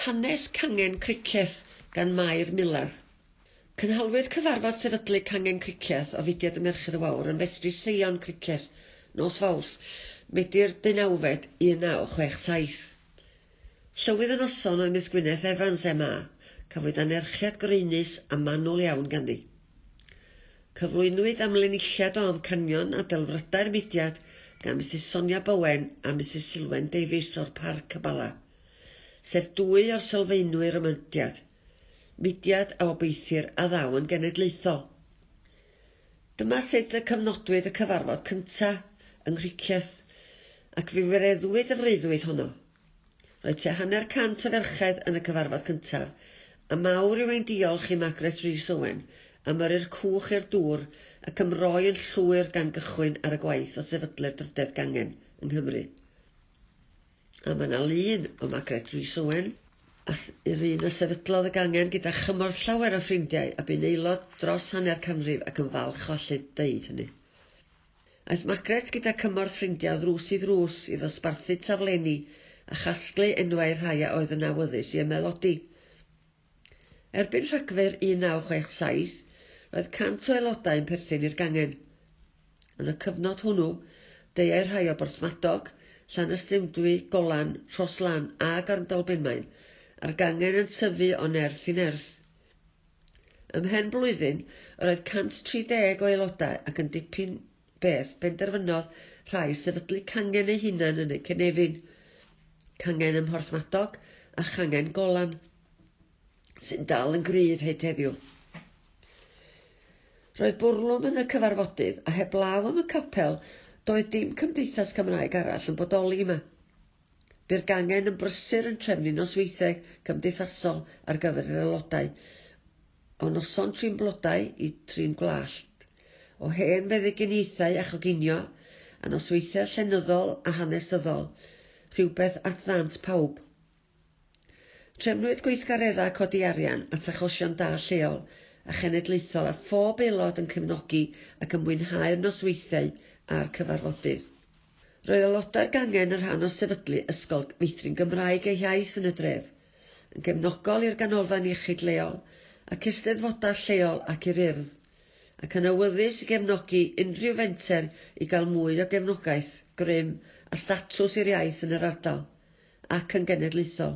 Hanes Cangen Cricieth gan Mair Miller. Cynhaliwyd cyfarfod sefydlu cangen cricieth o fudiad y Merched y Wawr yn Festri Seion Cricieth, nos Fawrth, Medi'r deunawfed, 1967. Llywydd y noson oedd Miss Gwyneth Evans, MA. Cafwyd anerchiad graenus a manwl iawn ganddi. Cyflwynwyd amlinelliad o amcanion a delfrydau'r mudiad gan Misus Sonia Bowen a Misus Silwen Davies o'r Parc y Bala. sef dwy o sylfaenwyr y myndiad, mudiad a obeithir a ddaw yn genedlaethol. Dyma sut y cyfnodwyd y cyfarfod cyntaf yng Nghricieth, ac fe wireddwyd y freuddwyd honno. Roedd tua hanner cant o ferched yn y cyfarfod cyntaf, a mawr yw ein diolch i Margaret Rees Owen am yrru'r cwch i'r dŵr ac am roi yn llwyr gan gychwyn ar y gwaith o sefydlu'r drydedd gangen yng Nghymru. A mae 'na lun o Margaret Rhys Owen, a s- yw'r un a sefydlodd y gangen gyda chymorth llawer o ffrindiau a bu'n aelod dros hanner canrif ac yn falch o allu deud hynny. Aeth Margaret gyda cymorth ffrindiau o ddrws i ddrws i ddosbarthu taflenni a chasglu enwau rhai a oedd yn awyddus i ymaelodi. Erbyn Rhagfyr 1967, roedd 100 o aelodau yn perthyn i'r gangen. Yn y cyfnod hwnnw, deuai rhai o Borthmadog, Llanystumdwy, Golan, Rhoslan a Garndolbenmaen, a'r gangen yn tyfu o nerth i nerth. Ymhen blwyddyn, yr oedd 130 o aelodau ac yn dipyn beth benderfynodd rhai sefydlu cangen eu hunain yn eu cynefin, cangen ym Mhorthmadog a changen Golan, sy'n dal yn gryf hyd heddiw. Roedd bwrlwm yn y cyfarfodydd, a heblaw am y capel, doedd dim Cymdeithas Cymraeg arall yn bodoli yma. Bu'r gangen yn brysur yn trefnu nosweithiau cymdeithasol ar gyfer yr aelodau, o noson trin blodau i trin gwlalt, o hen feddyginiaethau a choginio, a nosweithiau llenyddol a hanesyddol, rhywbeth at ddant pawb. Trefnwyd gweithgareddau codi arian at achosion da lleol a chenedlaethol a phob aelod yn cefnogi ac yn mwynhau'r nosweithiau a'r cyfarfodydd. Roedd aelodau'r gangen yn rhan o sefydlu ysgol meithrin Gymraeg eu hiaith yn y dref, yn gefnogol i'r ganolfan iechyd leol ac eisteddfodau lleol ac i'r Urdd, ac yn awyddus i gefnogi unrhyw fenter i gael mwy o gefnogaeth, grym a statws i'r iaith yn yr ardal. ac yn genedlaethol.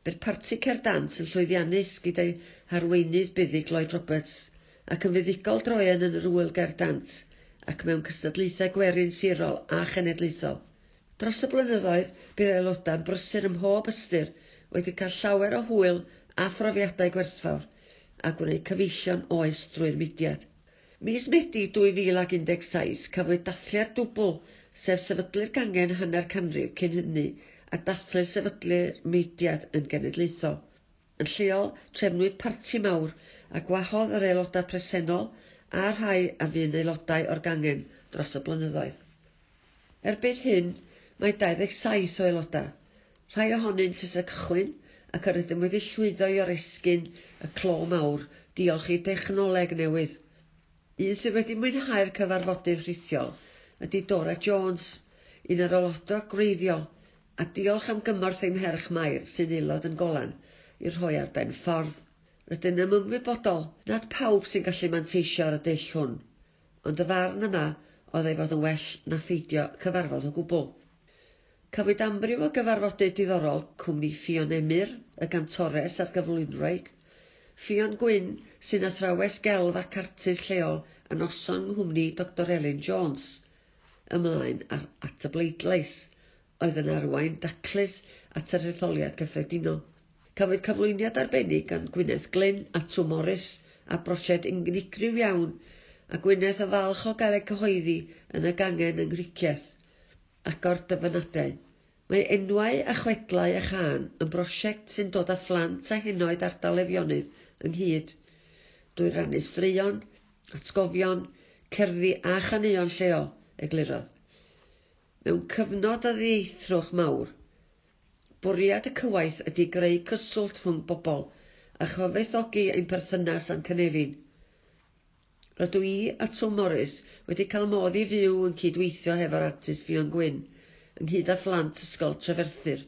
Bydd Parti Cerdant yn llwyddiannus gyda'i harweinydd buddig Lloyd Roberts ac yn fuddugol droeon yn yr Ŵyl Ger Dant ac mewn cystadlaethau gwerin sirol a chenedlaethol. Dros y blynyddoedd, bydd aelodau'n brysur ym mhob ystyr, wedi cael llawer o hwyl a phrofiadau gwerthfawr, a gwneud cyfeillion oes drwy'r mudiad. Mis Medi 2017, cafwyd dathliad dwbl, sef sefydlu'r gangen hanner canrif cyn hynny a dathlu sefydlu'r mudiad yn genedlaethol. Yn lleol, trefnwyd parti mawr a gwahodd yr aelodau presennol a'r rhai a fu'n aelodau o'r gangen dros y blynyddoedd. Erbyn hyn, mae 27 o aelodau, rhai ohonynt ers y cychwyn ac yr ydym wedi llwyddo i oresgyn y clo mawr diolch i dechnoleg newydd. Un sydd wedi mwynhau'r cyfarfodydd rhithiol ydy Dora Jones, un o'r aelodau gwreiddiol, a diolch am gymorth ei mherch Mair, sy'n aelod yn Golan, i'r rhoi ar ben ffordd. Rydyn yn ymwybodol nad pawb sy'n gallu manteisio ar y dull hwn. Ond y farn yma oedd ei fod yn well na pheidio cyfarfod o gwbl. Cafwyd amryw o gyfarfodydd diddorol, cwmni Ffion Emyr, y gantores a'r gyflwynwraig, Ffion Gwyn, sy'n athrawes gelf ac artist lleol a noson nghwmni Doctor Elin Jones, ymlaen at y bleidlais, oedd yn arwain daclus at yr Hetholiad Cyffredinol. Cafwyd cyflwyniad arbennig gan Gwyneth Glyn a Twm Morys ar brosiect unigryw iawn, a Gwyneth yn falch o gael ei cyhoeddi yn y gangen yng Nghricieth, agor dyfynadau. Mae Enwau a Chwedlau a Chân yn brosiect sy'n dod â phlant a henoed ardal Eifionydd ynghyd, drwy rannu straeon, atgofion, cerddi a chaneuon lleol, eglurodd. Mewn cyfnod o ddieithrwch mawr, bwriad y cywaith ydy greu cyswllt rhwng bobl a chyfoethogi ein perthynas â'n cynefin. Rydw i a Twm Morys wedi cael modd i fyw yn cyd-weithio hefo'r artist Ffion Gwyn, ynghyd â phlant Ysgol Treferthyr.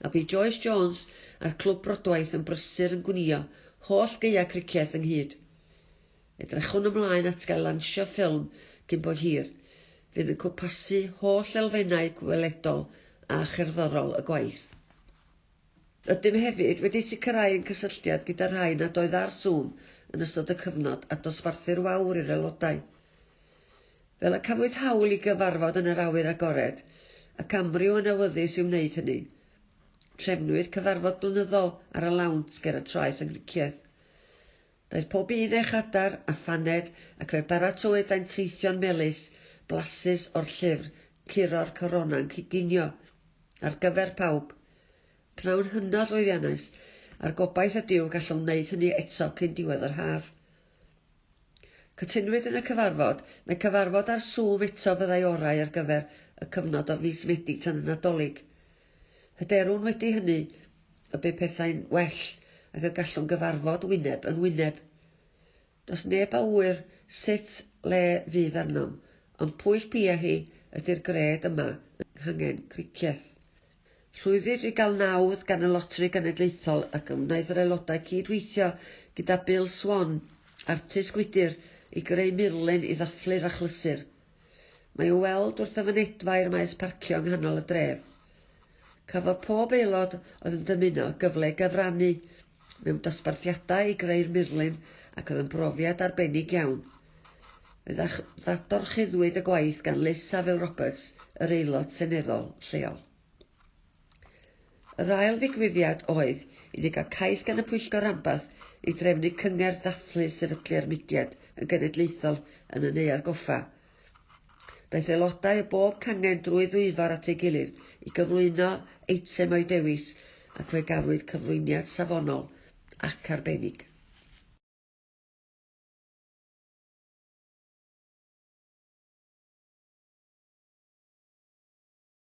A bu Joyce Jones a'r Clwb Brodwaith yn brysur yn gwnïo holl gaeau cricieth ynghyd. Edrychwn ymlaen at gael lansio ffilm cyn bo hir, fydd yn cwmpasu holl elfennau gweledol a cherddorol y gwaith. Rydym hefyd wedi sicrhau ein cysylltiad gyda'r rhai nad oedd ar Zoom yn ystod y cyfnod a dosbarthu'r wawr i'r aelodau. Fel y cafwyd hawl i gyfarfod yn yr awyr agored, ac amryw yn awyddus i wneud hynny, trefnwyd cyfarfod blynyddol ar y lawnt ger y traeth yng Nghricieth. Daeth pob un â'u chadar a phaned ac fe baratowyd dainteithion melys, blasus o'r llyfr Curo'r Corona'n Coginio, ar gyfer pawb. Pnawn hynod lwyddiannus, a'r gobaith ydyw gallwn wneud hynny eto cyn diwedd yr haf. Cytunwyd yn y cyfarfod, mai cyfarfod ar Zoom eto fyddai orau ar gyfer y cyfnod o fis Medi tan y Nadolig. Hyderwn wedi hynny y bu pethau'n well ac y gallwn gyfarfod wyneb yn wyneb. Does neb a ŵyr sut le fydd arnom, ond pwyll pia hi ydy'r gred yma yng Nghangen Cricieth. Llwyddid i gael nawdd gan y Loteri Genedlaethol ac fe wnaeth yr aelodau cyd-weithio gyda Bill Swan, artist gwydr, i greu murlun i ddathlu'r achlysur. Mae i'w weld wrth y fynedfa i'r maes parcio yng nghanol y dref. Cafodd pob aelod oedd yn dymuno gyfle i gyfrannu mewn dosbarthiadau i greu'r murlun ac oedd yn brofiad arbennig iawn. Fe ddadorchuddwyd y gwaith gan Liz Saville Roberts, yr Aelod Seneddol lleol. Yr ail ddigwyddiad oedd i ni gael cais gan y Pwyllgor Ranbarth i drefnu cyngerdd dathlu sefydlu'r mudiad yn genedlaethol yn y Neuadd Goffa. Daeth aelodau o bob cangen drwy ddwyfor at ei gilydd i gyflwyno eitem o'u dewis ac fe gafwyd cyflwyniad safonol ac arbennig.